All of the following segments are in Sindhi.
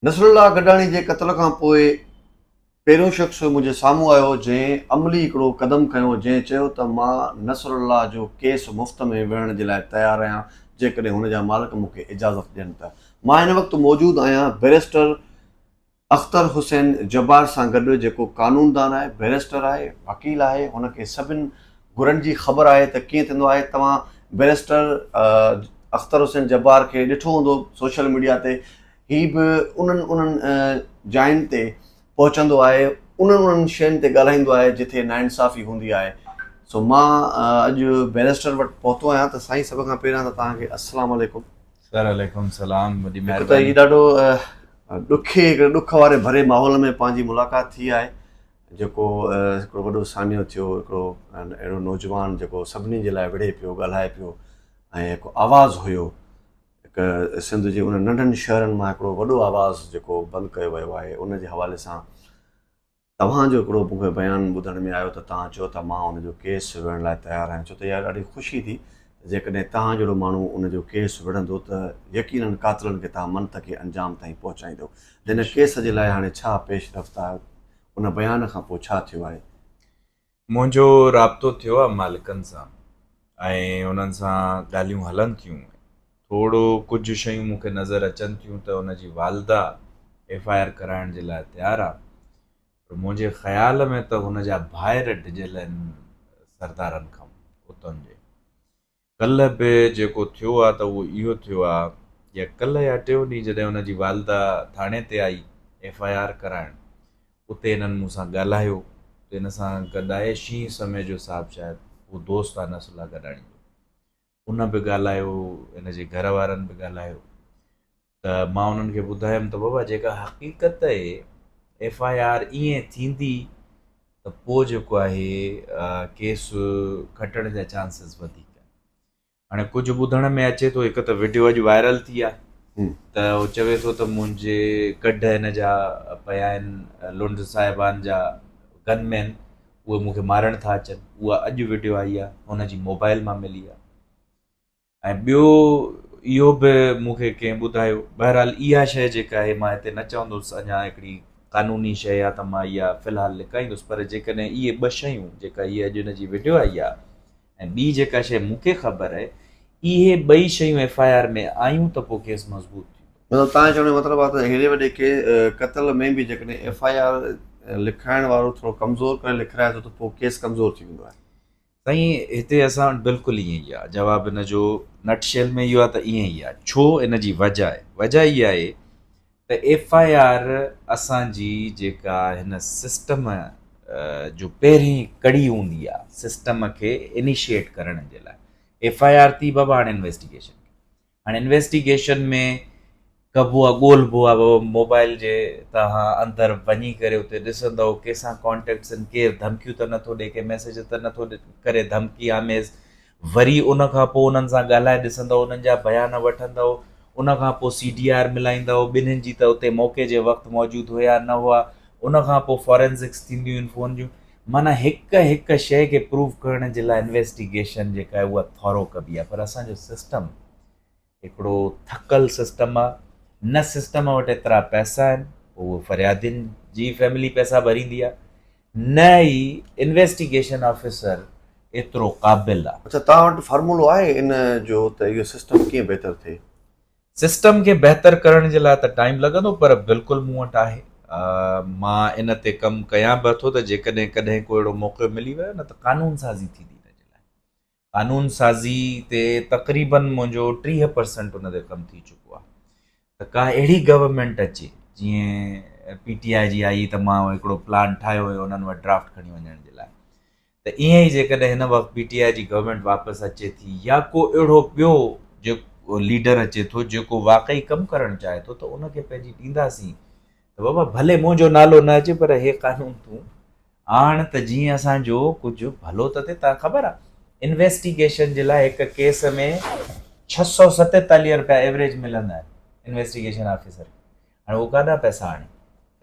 نصرالله گڏاڻي جي قتل کان پوء پهريون شخص منهنجي سامهون آيو جنهن عملي هڪڙو قدم کنيو جنهن چيو ته مان نصرالله جو ڪيس مفت ۾ وڙهڻ جي لاء تيار آهيان جيڪڏهن هن جا مالڪ مون کي اجازت ڏين ته مان هن وقت موجود آهيان بئريسٽر اختر حسين جبار سان گڏ جيڪو قانوندان آهي، بئريسٽر آهي، وڪيل آهي، هن کي سڀن گرن جي خبر آهي ته ڪيئن ٿيندو آهي، توهان بئريسٽر اختر حسين جبار کي ڏٺو هوندو سوشل ميڊيا تي، هي به انهن انهن جاين تي پهچندو آهي، انهن انهن شين تي ڳالهائيندو آهي جٿي ناانصافي هوندي آهي، سو مان اڄ بئريسٽر وٽ پهتو آهيان ته سائين سڀ کان پهريان ته توهان کي السلام عليڪم. سر عليڪم السلام وڏي مهرباني. هڪ ته هي ڏاڍو ڏکي هڪڙي ڏک واري ڀري ماحول ۾ پنهنجي ملاقات ٿي آهي جيڪو هڪڙو وڏو سانحو ٿيو هڪڙو اهڙو نوجوان جيڪو سڀني جي لاء وڙهي پيو ڳالهائي پيو ۽ هڪ آواز هيو هڪ سنڌ جي ان ننڍن شهرن مان هڪڙو وڏو آواز جيڪو بند ڪيو ويو آهي ان جي حوالي سان توهان جو هڪڙو مون کي بيان ٻڌڻ ۾ آيو ته توهان چيو ته مان ان جو ڪيس وڙهڻ لاء تيار آهيان ڇو ته اها ڏاڍي خوشي ٿي ته جيڪڏهن توهان جهڙو ماڻهو ان جو ڪيس وڙهندو ته يقيناً قاتلن کي توهان منطقي انجام تائين پهچائيندو هن ڪيس جي لاء هاڻي ڇا پيش رفت آهي ان بيان کان پوء ڇا ٿيو آهي؟ منهنجو رابطو ٿيو آهي مالڪن سان ۽ انهن سان ڳالهيون هلن ٿيون. ٿورڙو ڪجهه شيون مون کي نظر اچن ٿيون ته ان جي والده ايف آء آر ڪرائڻ جي لاء تيار آهي پر منهنجي خيال ۾ ته هن جا ڀائر ڊڄل آهن سردارن کان اتن جي ڪلهه به جيڪو ٿيو آ ته اهو اهو ٿيو آ يا ڪلهه يا ٽيون ڏينهن جڏهن هن جي والده ٿاڻي تي آئي ايف آء آر ڪرائڻ اتي هنن مون سان ڳالهايو ته هن سان گڏ آهي شينهن سميجو صاحب شايد اهو دوست آ نصر الله گڏاڻي جو ان به ڳالهايو هن جي گهر وارن به ڳالهايو ته مان انهن کي ٻڌايم ته بابا جيڪا حقيقت اهي ايف آء آر ائين ٿيندي ته پوء جيڪو آهي ڪيس کٽڻ جا چانسز وڌيڪ هاڻي ڪجهه ٻڌڻ ۾ اچي ٿو هڪ ته وڊيو اڄ وائرل ٿي آهي ته هو چوي ٿو ته منهنجي ڪڍ هن جا پيا آهن لنڊ صاحبان جا گن مين اهي مون کي مارڻ ٿا اچن اها اڄ وڊيو آئي آهي هن جي موبائل مان ملي آهي ۽ ٻيو اهو به مون کي ڪنهن ٻڌايو، بهرحال اها شيء جيڪا آهي مان هتي نه چوندس اڃا هڪڙي قانوني شيء آهي ته مان اها في الحال لڪائيندس پر جيڪڏهن اهي ٻه شيون جيڪا هيء اڄ ان جي وڊيو آئي آهي ۽ ٻي جيڪا شيء مون کي خبر آهي اهي ٻئي شيون ايف آء آر ۾ آيون ته پوء ڪيس مضبوط ٿيندو. مطلب توهان جو چوڻ جو مطلب آهي ته هيڏي وڏي قتل ۾ به جيڪڏهن ايف آء آر لکرائڻ وارو ٿورو ڪمزور ڪري لکرائي ٿو ته پوء ڪيس ڪمزور ٿي ويندو آهي. سائين هتي اسان وٽ بلڪل ائين ئي آهي جواب ان جو نٽ شيل ۾ اهو آهي ته ائين ئي آهي ڇو ان جي وجه آهي وجه اها آهي ته ايف آء آر اسانجي جيڪا هن سسٽم جو پهرين ڪڙي هوندي آهي سسٽم کي انيشيٽ ڪرڻ جي لاء ايف آء آر ٿي بابا هاڻي انويسٽيگيشن هاڻي انويسٽيگيشن ۾ ڪبو آ ڳولبو آ موبائل جي توهان اندر وڃي ڪري اتي ڏسندؤ ڪيسان ڪانٽيڪٽس ان ڪير ڌمڪيون ته نٿو ڏي ڪي ميسيج ته نٿو ڪري ڌمڪي آميز وري ان کان پوء انهن سان ڳالهائي ڏسندؤ انهن جا بيان وٺندؤ ان کان پوء سي ڊي آر ملائيندؤ ٻنهن جي ته اتي موقعي جي وقت موجود هيا نه هئا ان کان پوء فورينزڪس ٿينديون آهن فون جون معنيٰ هڪ هڪ شيء کي پروف ڪرڻ جي لاء انويسٽيگيشن جيڪا آهي اها ٿورو ڪبي آهي پر اسان جو سسٽم هڪڙو ٿڪل سسٽم آهي نه سسٽم وٽ ايترا پئسا آهن پوء اهو فريادين جي فيملي پئسا ڀريندي آهي نه ئي انويسٽيگيشن آفيسر ايترو قابل آهي. اڇا توهان وٽ فارمولو آهي ان جو ته اهو سسٽم ڪيئن بهتر ٿئي؟ سسٽم کي بهتر ڪرڻ جي لاء ته ٽائيم لڳندو پر بلڪل مون وٽ آهي. مان ان تي ڪم ڪيان به ٿو ته جيڪڏهن ڪڏهن ڪو اهڙو موقعو ملي ويو نه ته قانون سازي ٿيندي ان جي لاء. قانون سازي تي تقريباً منهنجو ٽيهه پرسنٽ ان تي ڪم ٿي چڪو آهي ته ڪا اهڙي گورنمينٽ اچي جيئن پي ٽي آء جي آئي ته مان هڪڙو پلان ٺاهيو هيو انهن وٽ ڊرافٽ کڻي وڃڻ جي لاء ته ائين ئي جيڪڏهن هن وقت پي ٽي آء جي گورنمينٽ واپس اچي ٿي يا ڪو اهڙو ٻيو جيڪو ليڊر اچي ٿو جيڪو واقعي ڪم ڪرڻ چاهي ٿو ته ان کي پنهنجي ڏينداسين ته بابا ڀلي منهنجو نالو نه اچي پر هي قانون تون آڻ ته جيئن اسان جو ڪجهه ڀلو ته ٿئي تان خبر آهي انويسٽيگيشن جي لاء هڪ ڪيس ۾ ڇهه سؤ ستيتاليهه روپيا ايوریج ملندا آهن انويسٽيگيشن آفيسر کي هاڻي هو ڪاڏا پئسا آڻي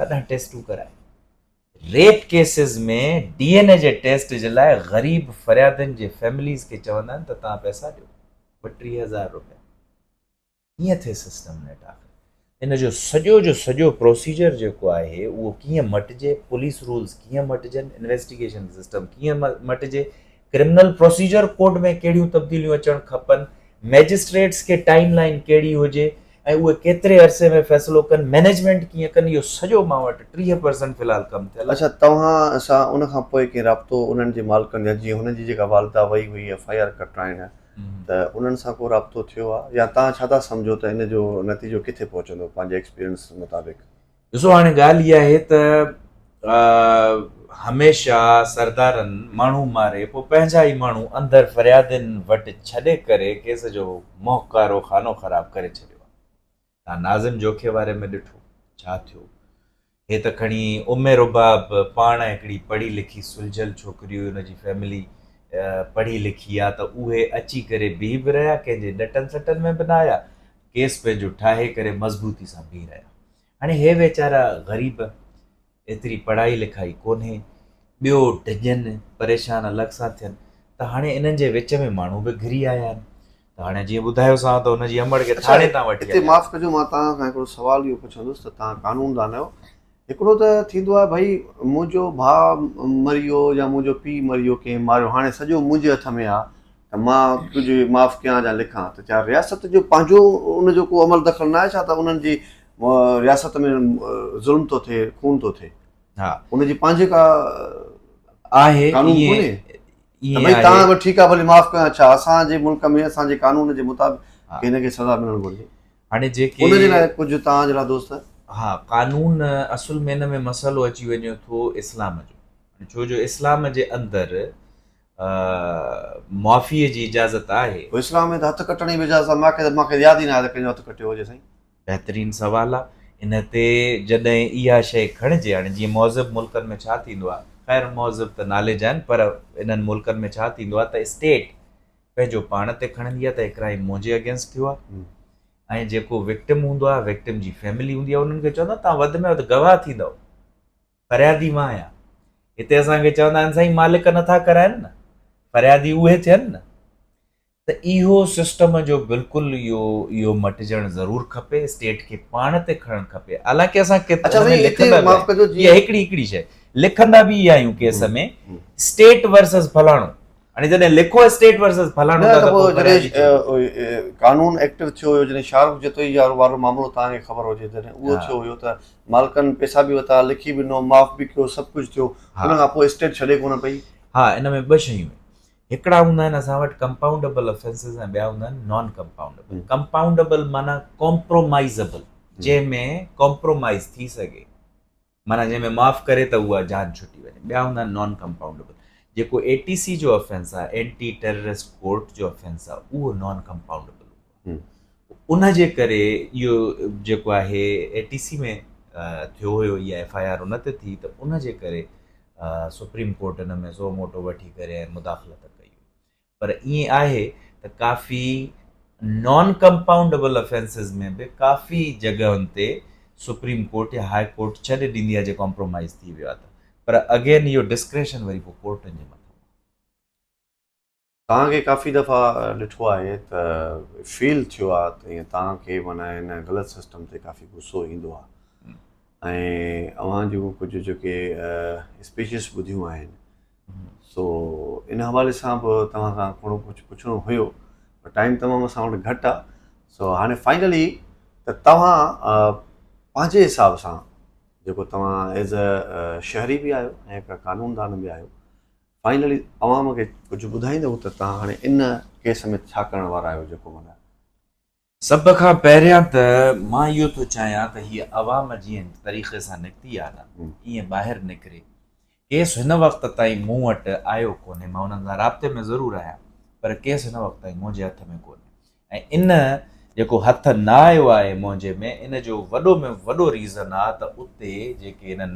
ڪاڏا ٽيسٽون ڪرائي rape cases ۾ D N A جي ٽيسٽ جي لاء غريب فريادين جي فيمليز کي چوندا آهن ته توهان پئسا ڏيو ٻٽيهه هزار روپيا ڪيئن ٿئي سسٽم نيٽ آخر ان جو سڄو جو سڄو پروسيجر جيڪو آهي اهو ڪيئن مٽجي پوليس رولز ڪيئن مٽجن انويسٽيگيشن سسٽم ڪيئن مٽجي ڪرمنل پروسيجر ڪوڊ ۾ ڪهڙيون تبديليون اچڻ کپن، مئجسٽريٽس کي ٽائيم لائين ڪهڙي هجي ۽ اهي ڪيتري عرصي ۾ فيصلو ڪن، مئنيجمينٽ ڪيئن ڪن، اهو سڄو مان وٽ ٽيهه پرسنٽ في الحال ڪم ٿيل آهي. اڇا توهان سان ان کان پوء ڪنهن رابطو انهن جي مالڪن جا جيئن هن جي جيڪا والده وئي هئي ايف آء آر ڪٽرائڻ ته انهن سان ڪو رابطو ٿيو آهي يا توهان ڇا ٿا سمجهو ته ان جو نتيجو ڪٿي پهچندو پنهنجي ايڪسپيرينس مطابق. ڏسو هاڻي ڳالهه اها آهي ته هميشه سردارن ماڻهو ماري پوء پنهنجا ئي ماڻهو اندر فريادين وٽ ڇڏي ڪري ڪيس جو مهڪارو خانو خراب ڪري ڇڏيو آهي. تان ناظم جوکي واري ۾ ڏٺو ڇا ٿيو. هي ته کڻي ام رباب پاڻ هڪڙي پڙهي لکي سلجهيل ڇوڪري هئي ان جي فيملي پڙهي لکي آ ته اهي اچي ڪري بيهي به رهيا ڪنهن جي ڏٽن سٽن ۾ به نه آيا ڪيس پنهنجو ٺاهي ڪري مضبوطي سان بيهي رهيا. هاڻي هي ويچارا غريب ايتري پڙهائي لکائي ڪونهي ٻيو ڊڄن پريشان الڳ سان ٿين ته هاڻي انهن جي وچ ۾ ماڻهو به گهري آيا آهن ته هاڻي جيئن ٻڌايوسان ته ان جي امڙ کي ٿاڻي تان وٺي هتي معاف ڪجو مان توهان کان هڪڙو سوال اهو پڇندس ته توهان قانوندان آهيو هڪڙو ته ٿيندو آهي ڀئي منهنجو ڀاء مريو يا منهنجو پيء مريو ڪنهن ماريو هاڻي سڄو منهنجي هٿ ۾ آهي ته مان تنهنجي معاف ڪيان يا لکان ته ڇا رياست جو پنهنجو ان جو ڪو عمل دخل ناهي ڇا ته انهن جي رياست ۾ ظلم ٿو ٿئي خون ٿو ٿئي ها ان جي پنهنجي ڪا آهي قانون ڪونهي ته ڀئي تان به ٺيڪ آهي ڀلي معاف ڪيان ڇا اسان جي ملڪ ۾ اسان جي قانون جي مطابق ڪنهن کي سزا ملڻ گهرجي هاڻي جيڪي ان جي لاء ڪجهه تان جهڙا دوست ها قانون اصل ۾ ان ۾ مسئلو اچي وڃي ٿو اسلام جو ڇو جو اسلام جي اندر معافيء جي اجازت آهي؟ پوء اسلام ۾ ته هٿ ڪٽڻ ئي به اجازت آهي. ماکي ته ماکي ياد ئي نه آهي ته ڪنهن جو هٿ ڪٽيو هجي سائين. بهترين سوال آ ان تي جڏهن اها شئي کڻجي هاڻي جيئن مهذب ملڪن ۾ ڇا ٿيندو آ خير مهذب ته نالي جا آهن پر انهن ملڪن ۾ ڇا ٿيندو آ ته اسٽيٽ پنهنجو پاڻ تي کڻندي آ ته هي ڪرائيم منهنجي اگينسٽ ٿيو آ ۽ جيڪو وڪٽم هوندو آ وڪٽم جي فيملي هوندي آ انهن کي چوندا تهان وڌ ۾ وڌ گواهه ٿيندؤ فريادي مان آهيان. هتي اسان کي چوندا آهن سائين مالڪ نٿا ڪرائين نه، فريادي اهي ٿين نه. ته اهو سسٽم جو بلڪل اهو اهو مٽجڻ ضرور کپي اسٽيٽ کي پاڻ تي کڻڻ کپي حالانڪه اسان ڪيت اچا سائين هتي لکندا معاف ڪجو جي هڪڙي هڪڙي شيء لکندا به اها آهيون ڪيس ۾ اسٽيٽ ورسز فلاڻو هاڻي جڏهن لکو اسٽيٽ ورسز فلاڻو نه ته پوء جڏهن قانون ايڪٽو ٿيو هيو جڏهن شارف جتوئي وارو معاملو توهان کي خبر هجي جڏهن اهو ٿيو هيو ته مالڪن پئسا به وتا لکي به ڏنو معاف به ڪيو سڀ ڪجهه ٿيو ان کان پوء اسٽيٽ ڇڏي ڪونه پئي ها ان ۾ ٻه شيون هڪڙا هوندا آهن اسان وٽ ڪمپائونڊبل افينسز ۽ ٻيا هوندا آهن نان ڪمپائونڊبل ڪمپائونڊبل معنيٰ ڪمپرومائزبل جنهن ۾ ڪمپرومائز ٿي سگهي معنيٰ جنهن ۾ معاف ڪري ته اها جان ڇٽي وڃي، ٻيا هوندا آهن نان ڪمپائونڊيبل، جيڪو اي ٽي سي جو افينس آهي، اينٽي ٽيررسٽ ڪورٽ جو افينس آهي، اهو نان ڪمپائونڊيبل هوندو آهي، ان جي ڪري اهو جيڪو آهي اي ٽي سي ۾ ٿيو هيو اها ايف آء آر ان تي ٿي ته ان جي ڪري سپريم ڪورٽ ان ۾ سو موٽو وٺي ڪري ۽ مداخلت ڪئي هئي، پر ائين آهي ته ڪافي نان ڪمپائونڊبل افينسز ۾ به ڪافي جڳهن تي سپريم ڪورٽ يا هاء ڪورٽ ڇڏي ڏيندي آهي جي ڪامپرومائيز ٿي ويو آهي ته پر اگين اهو ڊسڪريشن وري پوء ڪورٽن جي مٿان آهي. توهان کي ڪافي دفعا ڏٺو آهي ته فيل ٿيو آهي ته ائين توهان کي معنيٰ هن غلط سسٽم تي ڪافي غصو ايندو آهي ۽ اوهان جون ڪجهه جيڪي اسپيچز ٻڌيون آهن سو ان حوالي سان به توهان کان ٿورو ڪجهه پڇڻو هيو پر ٽائيم تمام اسان وٽ گهٽ آهي سو هاڻي فائنلي ته توهان پنهنجي حساب سان جيڪو توهان ایز اي شهري به آهيو ۽ هڪ قانوندان به آهيو فائنلي عوام کي ڪجهه ٻڌائيندو ته توهان هاڻي ان ڪيس ۾ ڇا ڪرڻ وارا آهيو جيڪو مطلب سڀ کان پهريان ته مان اهو ٿو چاهيان ته هيء عوام جيئن طريقي سان نڪتي آهي نه ايئن ٻاهر نڪري. ڪيس هن وقت تائين مون وٽ آيو ڪونهي، مان انهن سان رابطي ۾ ضرور آهيان پر ڪيس هن وقت تائين منهنجي هٿ ۾ ڪونهي ۽ ان جيڪو هٿ نه آيو آهي منهنجي ۾ ان جو وڏو ۾ وڏو ريزن آهي ته اتي جيڪي انهن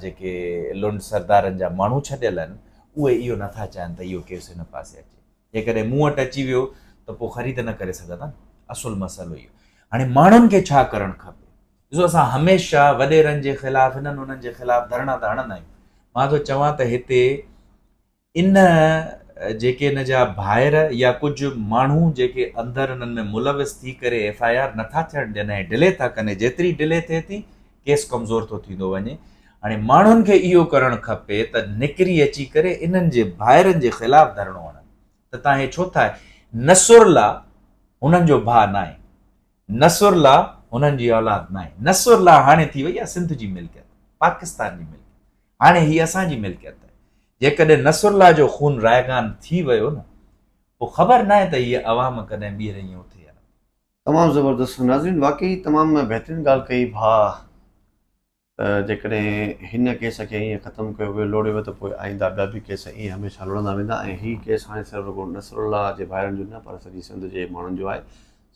جيڪي لنڊ سردارن جا ماڻهو ڇڏيل آهن اهي اهو نه ٿا چاهين ته اهو ڪيس هن پاسي اچي. جيڪڏهن مون وٽ اچي ويو ته پوء خريد نه ڪري سگهندا نه اصل مسئلو اهو هاڻي ماڻهن کي ڇا ڪرڻ کپي ڏسو اسان هميشه وڏيرن جي خلاف انهن انهن جي خلاف ڌرڻا ته هڻندا آهيون مان ٿو چوان ته هتي ان جيڪي ان جا ڀائر يا ڪجهه ماڻهو جيڪي اندر انهن ۾ ملوث ٿي ڪري ايف آء آر نٿا ٿيڻ ڏين ۽ ڊلي ٿا ڪن جيتري ڊلي ٿئي ٿي ڪيس ڪمزور ٿو ٿيندو وڃي هاڻي ماڻهن کي اهو ڪرڻ کپي ته نڪري اچي ڪري انهن جي ڀائرن جي خلاف ڌرڻو هڻن ته تان هي ڇو ٿا نصرالله هنن جو ڀاء ناهي نصرالله هنن جي اولاد ناهي نصرالله هاڻي ٿي وئي آهي سنڌ جي ملڪيت پاڪستان جي ملڪيت هاڻي هي اسان جي ملڪيت آهي جيڪڏهن نصرالله جو خون رائگان ٿي ويو نه پوء خبر ناهي ته هي عوام ڪڏهن ٻيهر ائين اٿي تمام زبردست ناظرين واقعي تمام بهترين ڳالهه ڪئي ڀاء ته جيڪڏهن هن ڪيس کي ائين ختم ڪيو ويو لوڙي ويو ته پوء آئنده ٻيا به ڪيس ائين هميشه لڙندا ويندا ۽ هي ڪيس هاڻي صرف رڳو نصر الله جي ڀائرن جو نه پر سڄي سنڌ جي ماڻهن جو آهي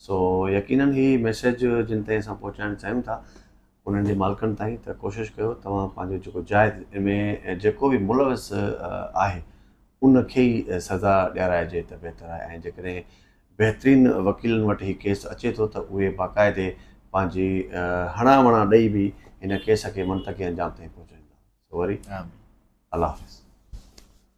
سو يقينن هي ميسيج جن تائين اسان پهچائڻ چاهيون ٿا انهن جي مالڪن تائين ته ڪوشش ڪيو توهان پنهنجو جيڪو جائز ان ۾ جيڪو به ملوث آهي ان کي ئي سزا ڏيارائجي ته بهتر آهي ۽ جيڪڏهن بهترين وڪيلن وٽ هي ڪيس اچي ٿو ته اهي باقاعدي پنهنجي هڻا وڻا ڏئي به هن ڪيس کي منطقي انجام تائين پهچائيندا سو وري آمين الله حافظ.